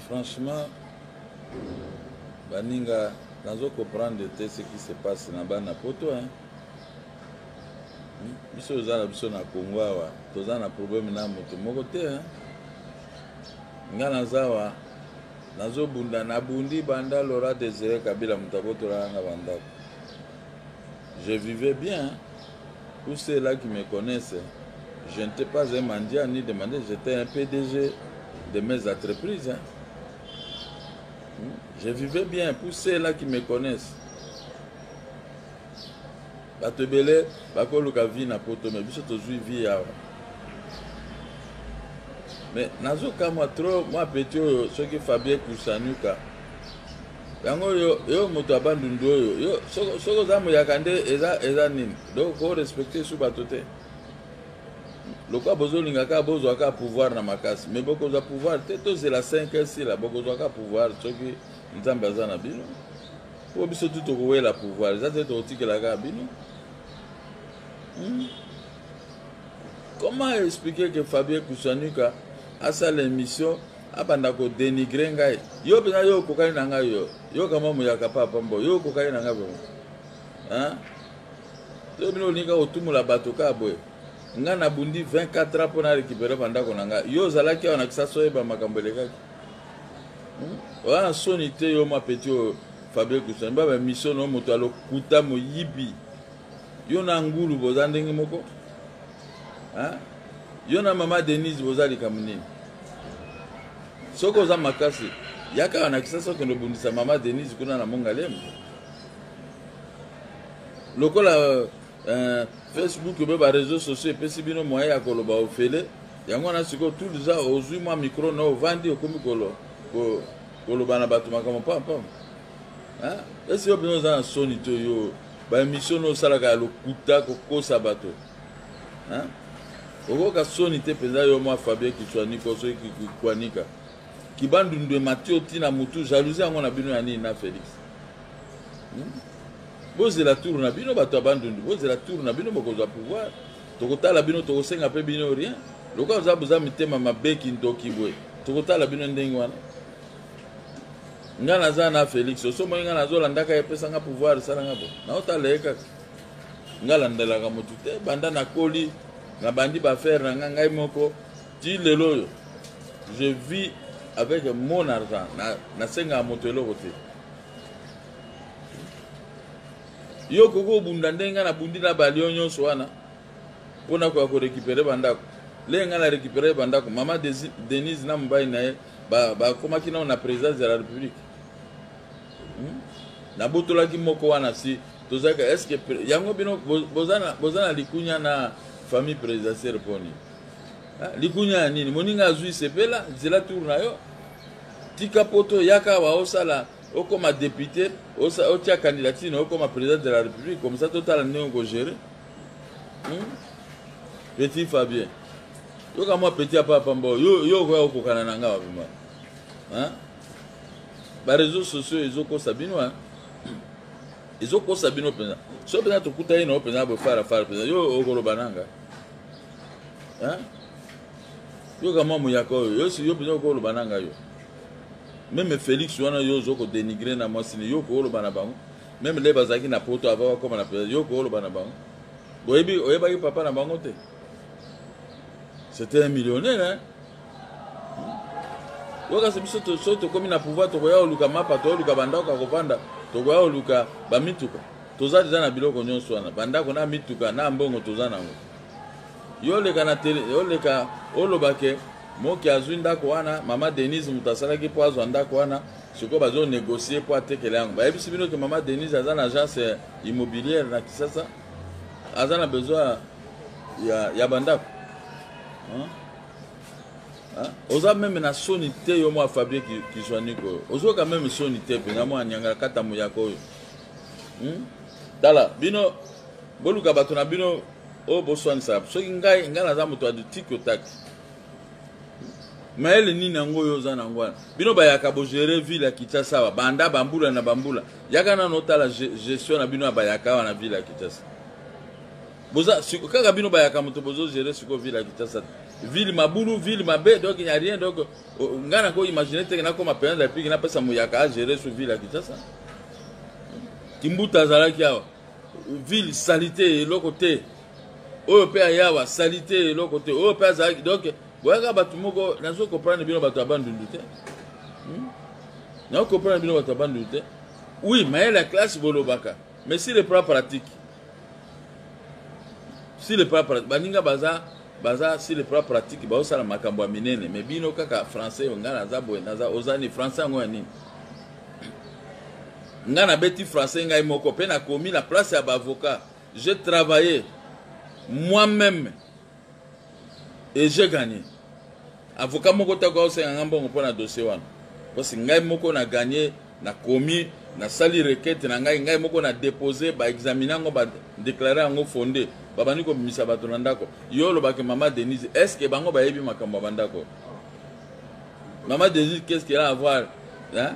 franchement baninga nazo comprendre te ce qui se passe na bana poto hein? biso oza na biso na congo awa toza na problème na moto moko te hein? nga naza awa nazobunda nabundi banda lora desire kabila moto abotolaka nga bandako Je vivais bien, tous ceux là qui me connaissent, je n'etais pas un mendiant ni demandé, j'étais un PDG de mes entreprises. Hein. Je vivais bien, pour ceux là qui me connaissent. bato ebele bakoluka vie na poto me biso tozwi vie awa me nazokamwa trop mwa peti oyo soki fabien kusanuka yango yo yo moto ya bandundu oyo yo soki oza muyaka nde eza eza nini donc ko respecte su bato te lokola bozolinga kaka bozwa kaka pouvoir na makasi mais bokozwa pouvoir te tozela 5 heures sila bokozwa kaka pouvoir soki nzambe aza na bino mpo biso tu tokowela pouvoir eza te tokotikela kaka bino hmm? comment expliquer que fabien kusanuka asala émission abanda ko denigrer ngai yo mpenza yo okokani na ngai yo yo kama muyaka papa mbo yo okokani na ngai vraimen hein yo bino olinga kotumola bato kaka boye ngai nabundi 24 ans mpo na récupere bandako na ngai yo ozalaki awa na kisasa oyeba makambo elekaki hmm? oza na soni te yo mwa peti oyo fabien kusani baba mission no moto alokuta moyibi yo na ngulu boza ndenge moko Hein? Yo na mama Denise boza likambo nini? Soki oza makasi, ya kaka na Kisasa okende obundisa mama Denise kuna na Mongalemu. Lokola euh, Facebook mpe ba réseaux sociaux epesi bino moyen ya koloba ofele, yango wana sikoyo tout deja ozwi mwa micro na ovandi okomi koloba na bato makambo pampam. esi yo mpenza oza na soni to yo baemission no osalaka ya lokuta kokosa bato okoyoka soni te mpenza yo mwa fabien kitswaniko soki kikwanika kibandundu emati oti na motu jalousie yango na bino ya nini na félix hmm? bozela tour na bino bato ya bandundu bozela tour na bino bokozwa pouvoir tokotala bino tokosenga mpe bino rien lokola oza boza mitema mabe kindoki boye tokotala bino ndenge wana nga naza na felix osi omoni nga nazolandaka ye epesa nga pouvoir esala nga bo naotala ye kaka nga landelaka motu te banda nakoli nabandi baaffaire na nga ngai moko ti lelo oyo je vis avec mon argent nasengaka moto eloko te yo okoki obunda ndenge nga nabundi na balio nyonso wana mpo na koya korekipere bandako lenge nga na rekipere bandako mama denise na mobali na ye bakomaki ba nao na présidence ya la république hmm? nabotolaki moko wana si tozalaki estce yango bino boza na likunya na famille présidentielle mpo nini likunya ya nini moninga azwi sepela zela tour na yo tika poto yaka awa osala okoma député otia candidature na okoma président de la république comme ça totala ndenge okogere hmm? petit fabien yoka mwa petit apa pamba yo yo okoya kokokana na nga wabima hein ba réseaux sociaux ezokosa bino hein ezokosa bino mpenza so mpenza tokutani na yo mpenza boye farafara mpenza yo okoloba nanga hein yoka mwa moyaka oyo yo yo mpenza okoloba nanga yo meme félix wana yo ozo kodenigre na mwasi ne yo okoloba na bango meme nde bazalaki na poto ava bakoma na president yo kooloba na bango boyebi oyebaki papa na bango te c'était un millionnaire hein? yo kasi biso so tokomi na pouvoir tokoya koluka mapa toyoluka bandako ya kovanda tokoya koluka bamituka toza deja na biloko nyonso wana bandako na mituka na mbongo toza nango yo oleka na tele oleka olobake moki azwi ndako wana mama denise moto asalaki mpo azwa ndako wana sikoyo bazo negocier mpo atekela yango bayebisi bino ke mama denise aza na agence immobilière na kisasa aza na besoin ya, ya bandako oza meme na soni te yo mwa fabie kizwaniko oyo ozoyoka meme soni te mpenza mwa nyangala kata moyaka oyo hmm? tala bino boluka bato na bino oyo boswanisaka soki ngai ngai naza moto ya litiki otaki mayele nini yango oyo oza nango wana bino bayaka bogere ville ya kinshasa awa banda bambula na bambula yaka nano otala gestion na bino ya bayaka awa na ville ya kinshasa boza kaka bino bayaka moto bozogere sikoyo ville ya kinshasa te ville mabulu ville mabe donc ya rien donc ngai nako imagine teke nakoma president de la république napesa moyaka agere su ville ya kinshasa kimbuta azalaki awa ville salite eloko te oyo mpe ayawa salite eloko te oyo mpe azalaki donc boyaka bato moko nazo comprendre bino bato ya bandundu te hmm? nazo comprendre bino bato ya bandundu te oui mayele ya classe bolobaka mais si le plan pratique si le plan pratique baninga baza baza si le plan pratique baosala makambo ya minene mais bino kaka français ngai naza boye naza oza ni français yango ya nini Nga na beti français ngai moko pe na komi na place ya ba avocat. Je travaille moi-même et je gagne. Avocat moko ta ko senga nga mbongo pona dossier wana. Parce ngai moko na gagne na komi na sali requête na ngai ngai moko na déposer ba examiner yango ba déclarer yango fondé. Babani ko misa bato na ndako. Yo lobaki maman Denise, est-ce que bango bayebi makambo ya bandako? Maman Jésus, qu'est-ce qu'elle a à voir hein?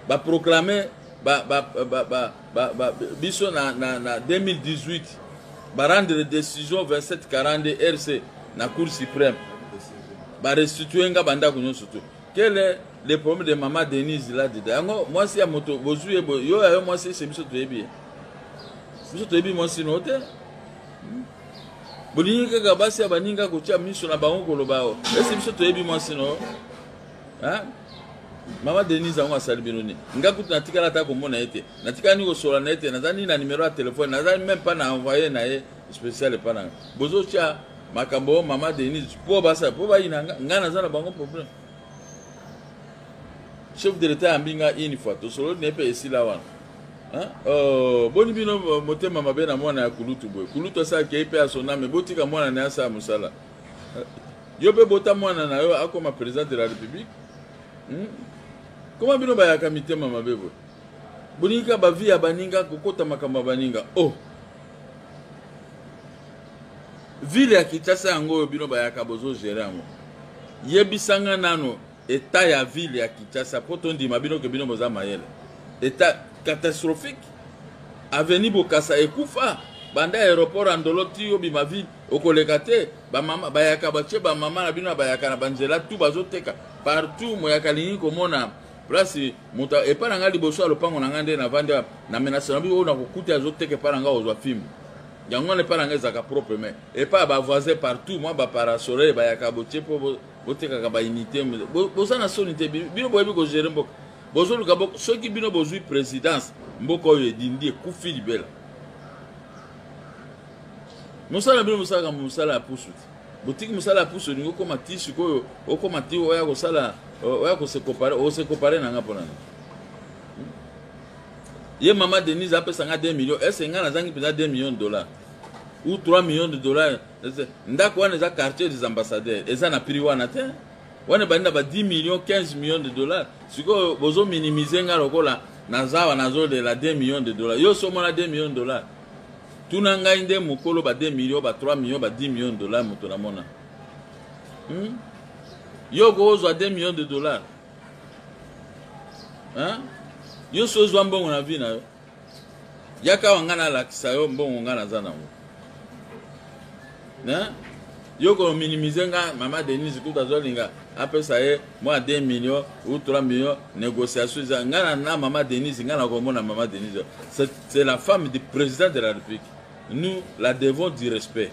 Ba proclamer ba ba ba ba ba, ba biso na, na, na 2018 ba rendre décision 2742 RC na Cour suprême. Ba restituer nga banda kunyo surtout. Quel est le problème de maman Denise là dedans? Yango moi si ya moto bozu ye yo ya yo moi si c'est biso toyebi. Biso toyebi moi si note. bolingi kaka basi ya baninga kotia miso na bango koloba o esi biso toyebi mwasi no mama denise yango asali bino nini nga kutu natikala ata komona ye te natikani kosola na ye te naza nini na nimero ya telefone naza meme mpa na envoye na ye spécial epa na nga bozotya makambo oyo mama denise mpo basala mpo bayina nga nga naza na bango problème chef de l'état yambi nga une fois tosololi na ye mpe esila wana Hein? Oh, boni bino motema mabe na mwana ya kulutu boye kulutu asala kei mpe asoname botika mwana na ye asala mosala eh, yo mpe bota mwana na yo akoma président de la république hmm? koma bino bayaka mitema mabe boye bolingi kaka bavi ya baninga kokota makambo ya baninga o oh. ville ya kinshasa yango oyo bino bayaka bozogere yango yebisanga nano Etat ya ville ya Kinshasa po to ndima bino ke bino boza mayele. Etat catastrophique. Avenue Bokassa ekufa banda aéroport ya Ndolo ti obima ville okoleka te ba mama bayaka batie ba mama na bino bayaka na banzela tout bazoteka partout moyaka lingi komona place moto epai na ngai liboso ya lopango na ngai nde navandi na menase na bino oyo nakokuta azoteka epai na ngai ozwa fimbu yango wana epai na ngai ezalaka propre mai epai ya bavoisin partout mwa baparasole bayaka botie mpo botekaka ba unité boza na soni te bino boyebi kogere mboka bozoluka bo, soki bino bozwi présidence mboka oyo edindi ekufi libela mosala bino mosalaka mosala ya pusu te botiki mosala ya pusu olingi okoma ti sikoyo okoma ti oya kosala oya kosekopare osekopare na nga mpo na nini ye mama denise apesa nga 2 million ese nga nazangi mpenza 2 million de dollars ou 3 million de dollars ndako wana eza quartier des ambassadeurs eza na prix wana te wana ebandi na ba 10 millions 15 millions de dollars sikoyo bozo minimize nga lokola nazawa nazolela 2 millions de dollars yo so omona 2 millions de dollars tuna ngai nde mokolo ba 2 millions ba 3 millions ba 10 millions de dollars moto namona hmm? yo okozwa 2 millions de dollars hein? yo so ozwa mbongo na vie na yo Yaka awa nga na lakisa yo mbongo nga naza nango. Hein? Yo ko minimiser nga mama Denise kuta zo linga apesa ye mwa 2 millions ou 3 millions négociation eza nga na na mama Denise nga na komona mama Denise. C'est la femme du président de la République. Nous la devons du respect.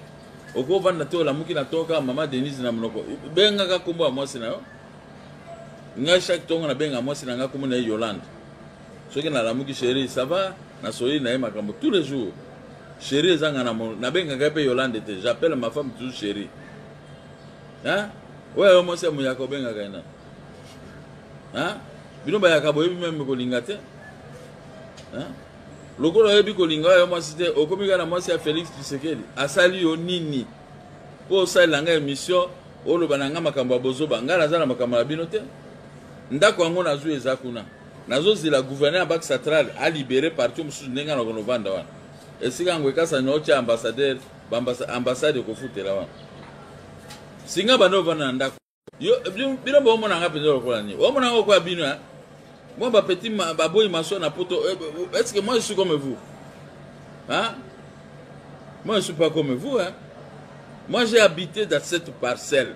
Okovanda te olamuki na toka mama Denise na monoko. Bengaka kombo ya mwasi na yo. Nga chaque tongo na benga mwasi na nga kombo na ye Yolande. soki nalamuki sheri ça va nasoyeli na ye makambo tous les jours sheri ezanga na mono nabengaka ye mpe yolande te j'appelle ma femme toujours sheri hein oyo yo mwasi ya moyaka obengaka ye nani hein bino bayaka boyebi meme kolinga te hein lokola oyebi kolinga oyo mwasi te okomi kaka na mwasi ya félix tshisekedi asali yo nini mpo osalela ngai émission oloba na ngai makambo ya bozoba ngai naza na makambo na bino te ndako yango nazwi eza kuna Nazo zela gouverneur ya Banque centrale a libere parti mosusu ndenge na kono vanda wana. Esika yango ekasa na otia ambassadeur, ambassade ekofutela wana. Singa bando vanda na ndako. Yo bino bo mona nga penza lokola ni. Bo mona nga kwa bino hein. Moi ba petit ba boy maso na poto. Eh, eh, est-ce que moi je suis comme vous? Hein? Moi je suis pas comme vous hein. Moi j'ai habité dans cette parcelle.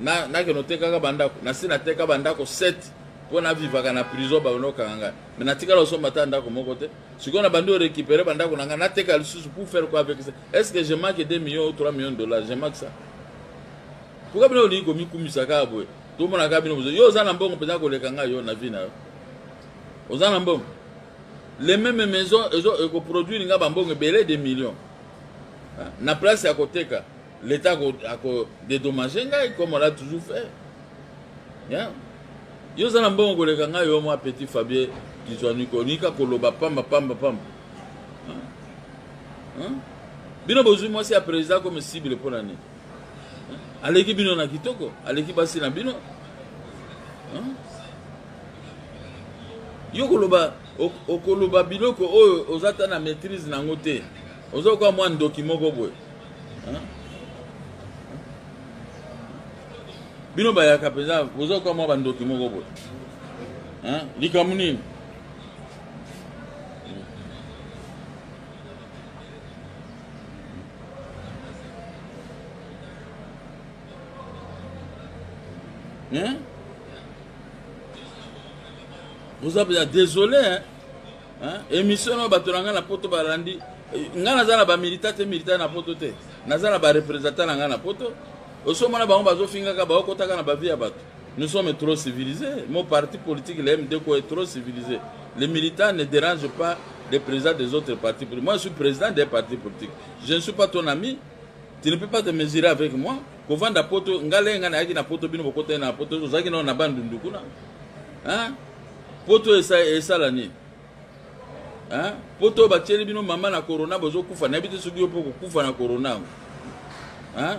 na nakende otekaka bandako nasi nateka bandako 7 mpo navivaka na prison babanda kokanga ngai mai natikala osomba ata ndako moko te sikoyo nabandi orécupere bandako na ngai nateka lisusu pour faire quoi avec ça est ce que je manque 2 millions ou 3 millions de dollars je manque ça pourquoi bino olingi komikumisa kaka boye tomonaka bino bozo yo oza na mbongo mpenza koleka ngai yo na vie na yo oza na mbongo les mêmes maisons ekoproduire ngai bambongo ebele de millions na place ya koteka L'Etat ako, ako dédommager ngai comme on l'a toujours fait. Yeah. Yo zana mbongo koleka ngai yo mwa petit Fabien Kizwaniko nika koloba pamba pamba pamba. Hein? Hein? Bino bozui mwasi ya président comme cible mpo na nini? Aleki bino na kitoko, aleki basi na bino. Hein? Yo koloba okoloba biloko oyo oza ta na maîtrise nango te. Oza kwa mwa ndoki moko boye. bino bayaka mpenza bozoka mwa bandoki moko boye likambo nini Hein? Vous avez désolé, hein? Emission na bato na ngai na poto balandi ngai naza na bamilita te milita na poto te naza na barepresentant na ngai na poto osomona bango bazofingaka baokotaka na bavi ya bato nous sommes trop civilisés mon parti politique le mdko est trop civilisé les militants ne dérangent pas les présidents des autres partis politiques moi je suis président des partis politiques je ne suis pas ton ami tu ne peux pas te mesurer avec moi kovanda poto ngai lenge ngai nayaki na poto bino bokotani na poto ozalaki nao na bandundu kuna poto esala nini hein? poto oyo batieli bino mama na corona bozokufa nayebi te soki yo mpo kokufa na corona yango hein?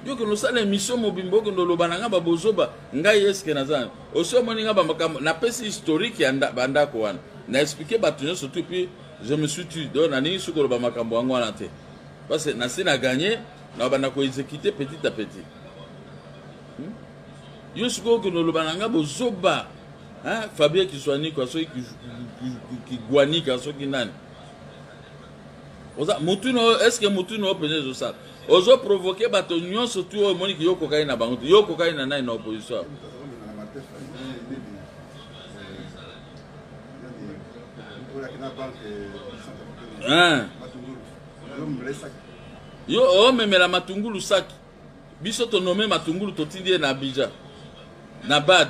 yo kende osala émission mobimba okende oloba na ngai babozoba ngai eske naza osi omoni ngai bamakambo napesi historique ya bandako wana na explike bato nyonso tu puis je me suis tu donc nalingi soki koloba makambo yango wana te parce que nasi na gagne na banda koexécute petit à petit yo sikoyo okende oloba na ngai bozoba fabien kiswanikwa soki kigwanika soki nani oza mutu na oyo estce mutu na oyo mpenza ezosala ozo provoke bato nyonso tu oyo omoni ki yo okokani na bango te yo okokani na nani na opposition yo omemela matungulu saki biso to nomme matungulu totindi ye na abidja na bad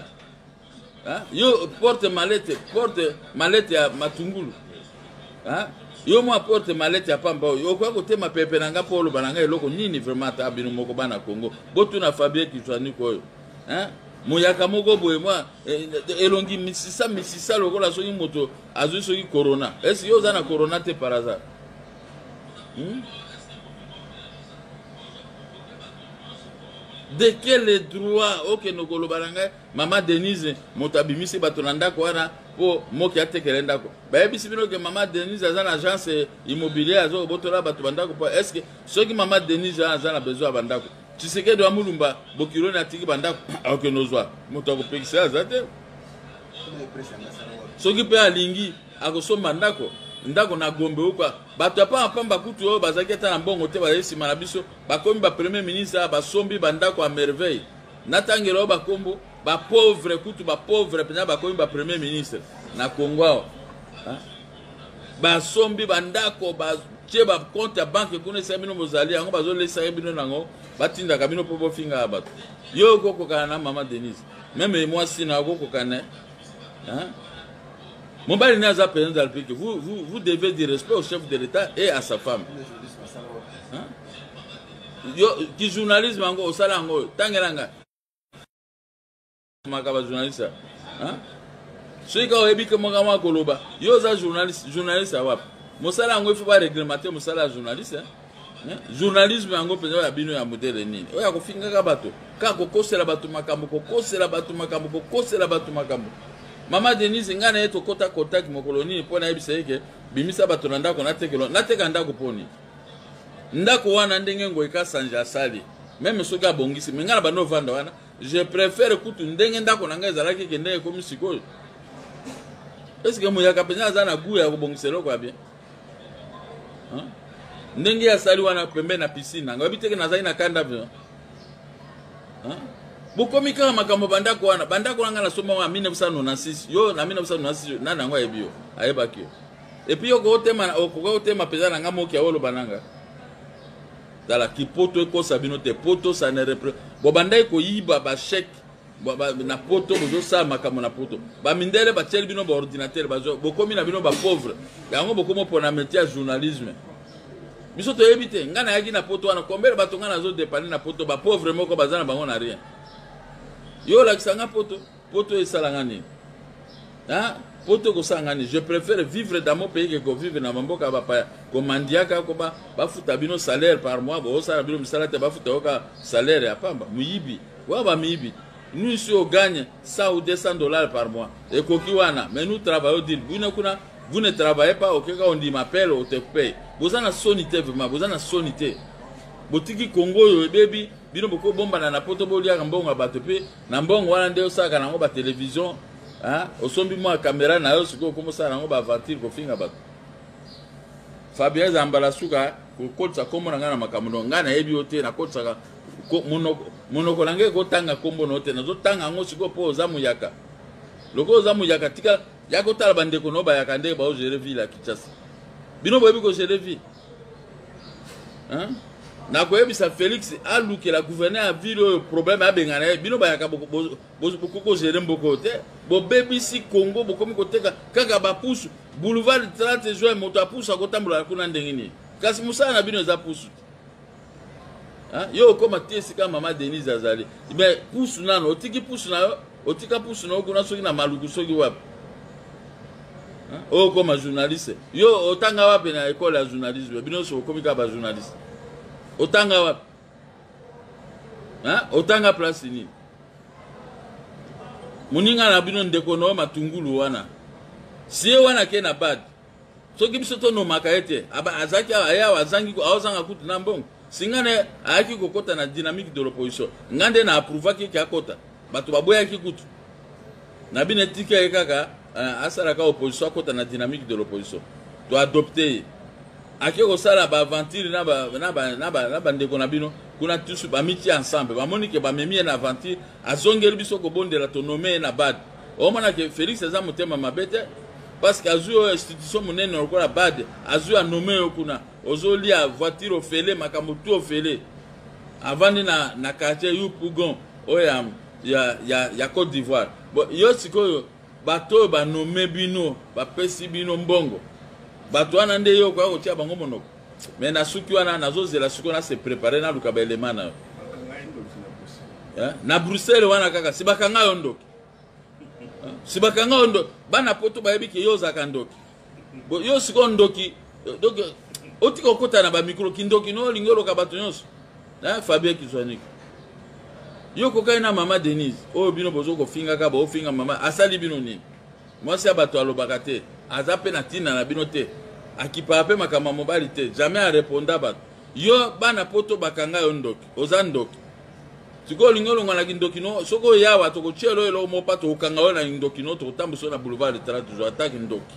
ha? yo porte malete porte malete ya matungulu ha? yo mwa porte malete ya pamba oyo okoki kotema pepe na nga mpo oloba na nga eloko nini vraiment ata bino moko bana congo botuna fabien kisaniko oyo ha? moyaka moko boye mwa eh, elongi misisa misisa lokola soki moto azwi soki corona esi yo oza na corona te par hasard Hum? de quel droit okende koloba na ngai mama denise moto abimisi bato na ndako wana mpo moki atekele ndako bayebisi bino ke mama denise aza na agence immobilier aza kobotola bato bandako mpo estce soki mama denise wana aza na besoin ya bandako tshisekedi wa mulumba bokiloni atiki bandako akokende ozwa moto akopekisa aza te soki mpe alingi Akosomba ndako ndako na Gombe huko. Bato ya pamba pamba kutu oyo bazalaki ata na mbongo te bazali nsima na biso, bakomi ba premier ministre, basombi bandako ya merveille. Natangela yo bakombo ba pauvre kutu ba pauvre mpenza bakomi ba premier ministre na Congo awa. Basombi bandako batie ba compte ya banke kuna esali bino bozali yango bazolesaki bino nango batindaka bino mpo bofingaka bato. Yo okokokana na mama Denise meme mwasi na okokokana hein? mobali ne aza président de la république vous, vous, vous devez du respect au chef de l'état et à sa femme hein? yo ki journalisme yango osala yango oyo tangela ngai maka bajournaliste hein? soki kaka oyebi ke moko yango akoloba yo oza journaliste journaliste ya wapi mosala yango ifo bareglemate mosala ya journaliste hein? journalisme yango mpenza ya bino ya modele nini oyo ya kofingaka bato kaka kokosela bato makambo kokosela bato makambo kokosela bato makambo mama denise ngai na ye tokɔta contact mokolo nini mpo nayebisa ye ke bimisa bato na ndako natekelo nateka ndako mpo nini ndako wana ndenge ngoi kasanje asali meme soki abongisi me ngai na bando ovanda wana je préfère kutu ndenge ndako na ngai ezalaki ke ndenge ekomi sikoyo eske moyaka mpenza aza na gout ya kobongisa eloko ya bien hein? ndenge ya sali wana pembe na piscine nanga oyebi teke nazali na kanda hein? bokomi kaka makambo bandako wana bandako wana ngai nasomba wana 1996 yo na 1996 nani yango ayebi yo ayebaki yo epuis yo okotema okoka kotema mpenza na ngai moki aoloba na ngai tala kipoto ekosa bino te poto sanere bobandaki koyiba basheke na poto bozosala makambo na poto bamindele batieli bino baordinatere bokomi na bino bapauvre yango bokomi opona metie ya journalisme biso toyebi te ngai nayaki na poto wana kombele bato ngai nazodepane na poto bapauvre moko baza na bango na rien yo olakisa ngai poto poto esalanga nini hein? poto kosala ngani je préfère vivre dans mon pays que kovivre na bamboka ya bapaya komandiaka koba bafuta bino salaire par mois bosala bino misala te bafuta yoka salaire ya pamba moyibi wa bamiyibi nous ici on gagne 100 ou 200 dollars par mois ekoki wana mais nous travaillons dire bino kuna vous ne travaillez pas okeka ondima pele otekupe boza na soni te vraiment boza na soni te botiki kongo oyo ebebi bino bokobombana na poto boliaka mbongo ya bato mpe na mbongo wana nde osalaka nango batelevision osombi mwa kamera na yo sikoyo okomi osala nango baaventure kofinga bato fabien eza mbala suka kokotisa nkombo na ngai na makambo no ngai nayebi yo te nakotisaka monoko na ngai ekotanga nkombo na yo te nazotanga yango sikoyo mpo oza muyaka lokola oza muyaka tika ya kotala bandeko na yo bayaka ndenge baogere ville ya kinshasa bino boyebi kogere ville hein? nakoyebisa félix alukela gouverneur ya ville oyo problème abengana ye bino bayaka bokoki kozele mboko oyo te bobebisi congo bokomi koteka kaka bapusu boulevard 30 juin moto apusu akotambola kuna ndenge nini kasi mosala na bino eza pusu te Hein? Yo okoma te esika mama Denise azali. Mais pusu nano otiki pusu na yo, otika pusu na yo kuna soki na maluku soki wapi. Hein? Oyo koma journaliste. Yo otanga wapi na école ya journalisme? Bino so okomi ka ba journaliste. Otanga wapi? Hein? Otanga place nini? Muninga na bino ndeko no matungulu wana. Sie wana ke na bad. soki biso tonomaka ye te azalaki awa ye awa azangi aozanga kutu na mbongo singa ne ayaki kokɔta na dynamique de l'opposition nga nde na approuvaki eke akɔta bato baboyaki kutu na bino etika ye kaka eh, asalaka opposition akɔta na dynamique de l'opposition to adopte ye ake kosala baaventure na bandeko na bino kuna tusu bamitia ensemble bamoni ke bamemi ye na aventure azongeli biso kobondela tonome ye na bad omona ke felix aza motema mabe te parceke azwi oyo institution monene lokola bad azwi anome yo kuna ozolia voiture ofele makambo tu ofele avandi na, na quartier yu pougon oyo ya, ya, ya, ya cote d'ivoire bon, yo sikoyo bato oyo banome bino bapesi bino mbongo bato wana nde yo okoya kotia bango monoko mais na suki wana nazozela sikoyo na se prépare naluka baelema na yo eh? na bruxelles wana kaka si bakanga yo ndoki eh? si bakanga yo ndoki bana poto bayebi ke yo ozalaka ndoki yo sikoyo ndoki eh, donc otika okota na bamikro kindoki no olingi oloka bato nyonso na fabien kizwaniki yo kokaki na mama denise oyo bino bozo kofingaka baofinga mama asali bino nini Mwasi ya bato alobaka te, aza pe na tina na bino te, akipaka pe makambo ya mobali te, jamais a reponda bato. Yo bana poto bakanga yo ndoki, oza ndoki. Sikoyo olingi olongwa na kindoki no, soki oyawa tokotyela oyo eloko moko pa tokokanga yo na kindoki no, tokotambusa yo na boulevard de Tala toujours ata kindoki.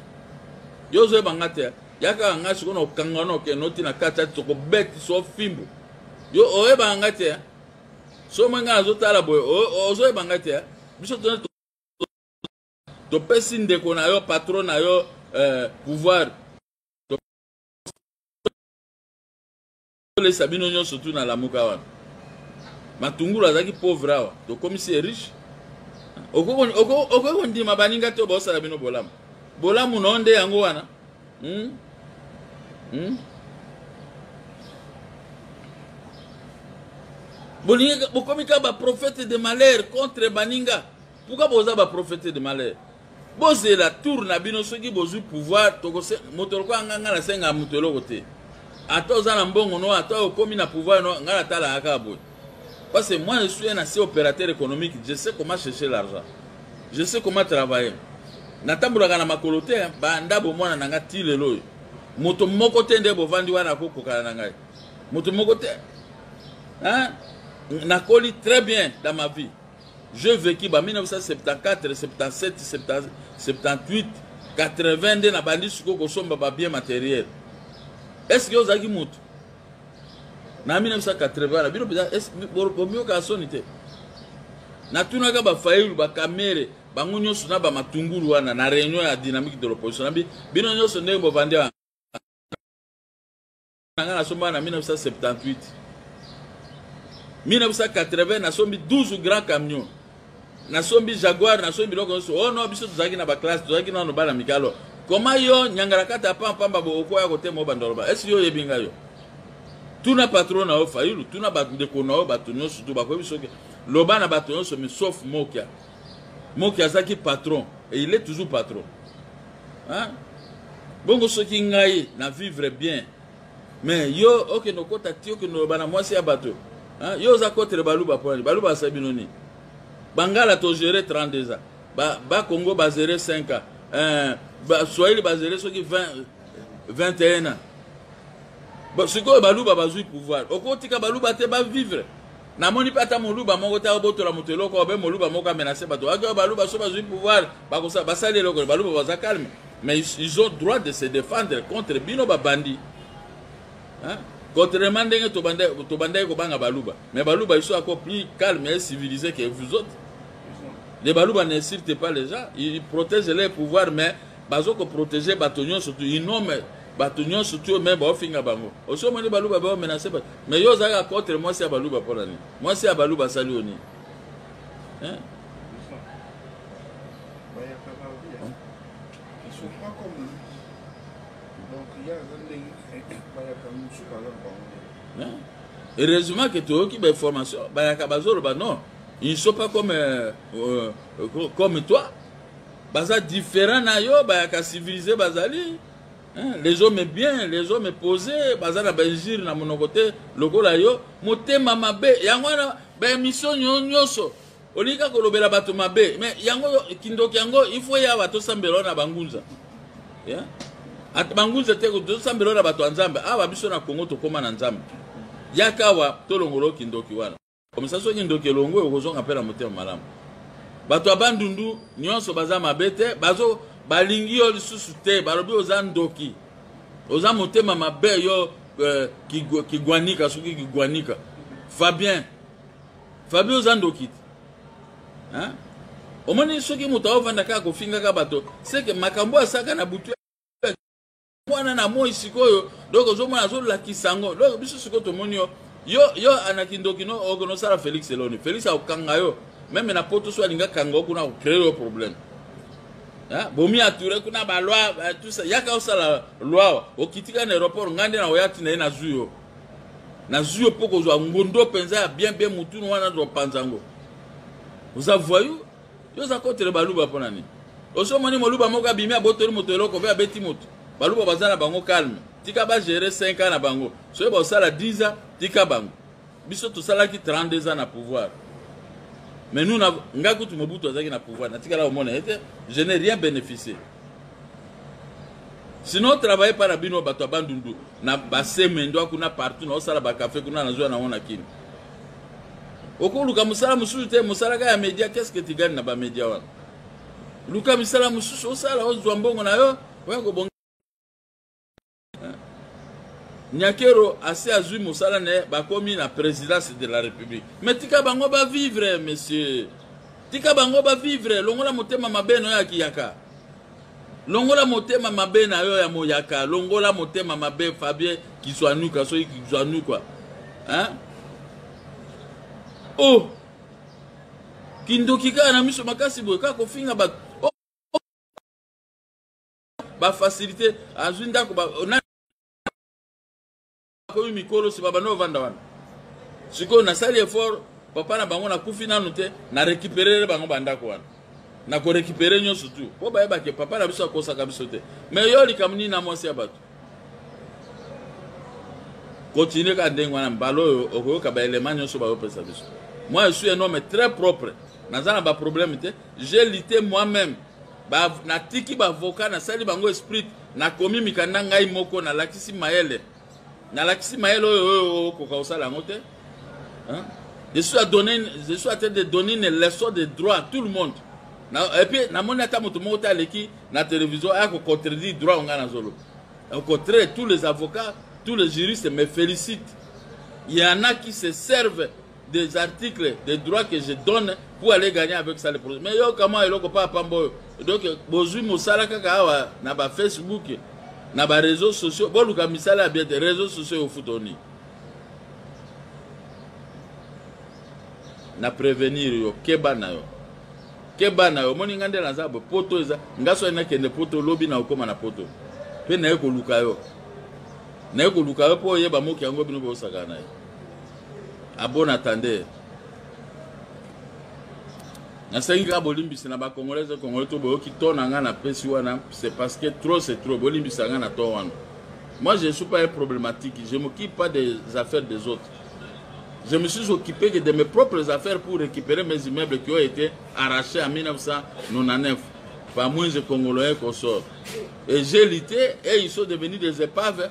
Yo ozoyeba nga te, yaka nga sikoyo na kokanga na okende oti na kati ati tokobeti so fimbu. Yo oyeba nga te, so mwe nga azotala boye, ozoyeba nga te, biso tozali topesi ndeko na yo patron na yo euh, pouvoir tolesa bino nyonso tu na lamuka wana matungulu azalaki pauvre awa tokomisi ye riche okoki kondima baninga te baosala bino bolamu bolamu na yo nde yango wana hmm? Hmm? bolingi bokomi kaka baprofete de malheur contre baninga Pourquoi boza ba prophète de malheur? Bozela tour na bino soki bozwi pouvoir toko moto lokola nga nga nasenga moto eloko te. Ata oza na mbongo no ata okomi na pouvoir no nga natala kaka boye. Parce que moi je suis un assez opérateur économique, je sais comment chercher l'argent. Je sais comment travailler. Natambolaka na makolo te, ba ndabo mwana na nga ti lelo oyo. Moto moko te nde bovandi wana akokokana na ngai. Moto moko te. Hein? Nakoli très bien dans ma vie. je veki ba 1974 77 78 80 nde nabandi sikoyo kosomba babien materiel eske ozalaki motu na 1980 na bino mpenza bomiyokaka soni te natunaka bafayulu bakamere bango nyonso na bamatungulu wana na réunion ya dynamique de l'opposition nabi bino nyonso ndenge bovandi na ngai nasombaka na 1978 1980 nasombi 12 grand camion nasombi jaguar nasombi biloko nyonso o oh no biso tozalaki na baklasse tozalaki nano bana mikalo koma yo nyangalakata pampamba bookoya kotema yo bandoloba esi yo oyebi ngai yo tuna patro na yo fayulu tuna bandeko na yo bato nyonso tu bakoyebi soki loba na bato nyonso misof mokia mokia azalaki patron et il est toujours patron hein? bongo soki ngai na vivre bien mais yo okende okota ti okende oloba na mwasi ya bato hein? yo oza kotre baluba mpo nani baluba asali bino nini bangala togere 32 ans bakongo ba bazere 5 ans eh, baswahili bazere soki 20, 21 ans sikoyo baluba bazwi pouvoir okotika baluba te bavivre namoni mpe ata moluba moko te abotola moto eloko obe moluba moko amenase bato ake baluba so bazwi pouvoir bakosa basali eloko baluba baza calme mais ils ont droit de se défendre contre bino babandi contrairement ndenge tobandaki kobanga baluba mais baluba iso ako plus calme et civilisé que vous autres les baluba n'insulte pas les gens ils protègent leur pouvoir mais bazo koprotege bato nyonso tu inome bato nyonso tu oyo me baofinga bango osi omoni baluba baomenase bato mais yo ozalaka contre mwasi ya baluba mpo na nini mwasi ya baluba asali yo nini heureusement que toyoki bainformation bayaka bazoloba non ils ne sont pas comme, euh, euh, comme toi baza différent na yo bayaka civilise bazali Hein, les hommes bien les hommes posés baza na bainjure na monoko te lokola yo motema mabe yango wana baemission nyonso olingi kaka kolobela bato mabe mais yango kindoki yango ifo ya bato osambela na bangunza yeah? bangunza te tosambela na bato ya nzambe awa biso na kongo tokóma na nzambe yaka awa tolongolo kindoki wana komisa soki ndoki elongwe okozonga mpe na motema malamu bato ya bandundu nyonso baza mabe te bazo balingi yo lisusu te balobi oza ndoki oza motema mabe yo eh, kigwanika soki kigwanika fabien fabien oza ndoki te omoni soki moto aovanda kaka kofingaka bato seke makambo asaka na butu wana na moi sikoyo donc ozomona azolakisa yango donc biso sikoyo tomoni yo yo yo na kindoki no okonosala félix eloni félix akokanga yo meme na poto so alinga kanga okuna akocree yo problème bomi ature kuna baloi tusa yaka osala loi okitika na aéroport ngai nde nakoya ntina ye nazwi yo nazwi yo mpo kozwa ngondo mpenza ya bien bien motunu wana topanza yango oza voyou yo oza kotre baluba mpo na nini osomoni moluba moko abimi abotoli moto eloko mpe abeti moto baluba baza na bango calme tika bagere 5 ans na bango soki baosala 10 ans tika bango biso tosalaki 32 ans na pouvoir mais nous ngai kutu mobutu azalaki na pouvoir natikala komona ye te je n'ai rien bénéficié sinon travaille mpa na bino bato ya bandundu na basemendo kuna partout naosala bakafe kuna nazwa nango na kini okoluka mosala mosusu te mosala kaka ya media qu'est ce que tu gagne na ba media wana luka misala mosusu osala ozwa mbongo na yo oya kobonga nyakero asi azwi mosala na ye bakomi na présidence de la république mais tika bango bavivre monsieur tika bango bavivre longola motema mabe no ya kiyaka longola motema mabe na yo ya moyaka longola motema mabe fabie kizwanuka soki kizwanuka hein? oh kindoki kaka na miso makasi boye kaka kofinga bato oh. bafacilité azwi ndako bakomi mikolo si babanda ovanda wana sikoyo nasali effort papa na bango nakufi nanu te na récupérere bango bandako wana na korécupere nyonso tu mpo bayebake papa na biso akosaka biso te me yo likambo nini na mwasi ya bato continue kaka ndenge wana mbala oyo okoyoka baelema nyonso bayopesa biso moi je suis un homme très propre naza na baproblème te je lite moi-même ba, natiki bavoka nasali bango esprit nakomi mikanda ngai moko nalakisi mayele nalakisi mayele oyo oyo okoka kosala yango te je suis à donner je suis à train de donner une leçon de droit à tout le monde na, et puis namoni ata moto moko te aleki na télévision aya kocontredire droit oyo ngai nazoloba au contraire tous les avocats tous les juristes me félicitent il y en a qui se servent des articles de droit que je donne pour aller gagner avec ça le projet mais yo kama eloko pa pamba oyo donc bozwi mosala kaka awa na ba facebook na ba réseaux sociaux boluka misala ya bien te réseaux sociaux ofuta oni na prévenir yo keba na yo keba na yo omoni ngai nde naza bo poto eza ngai soki nakende poto lobi na okóma na poto mpe naye koluka yo naye koluka yo mpo oyeba moki yango bino bosakana na ye A bon attendeur. nasengi kaka bolimbisi na bacongolaise congolais to boyoki to na ngai napesi wana c'est parce que trop c'est trop bolimbisa ngai na to wana moi je ne suis pas un problématique je m'occupe pas des affaires des autres je me suis occupé que de mes propres affaires pour récupérer mes immeubles qui ont été arrachés en 1999 par moins de congolais qu'on sort et j'ai lutté et ils sont devenus des épaves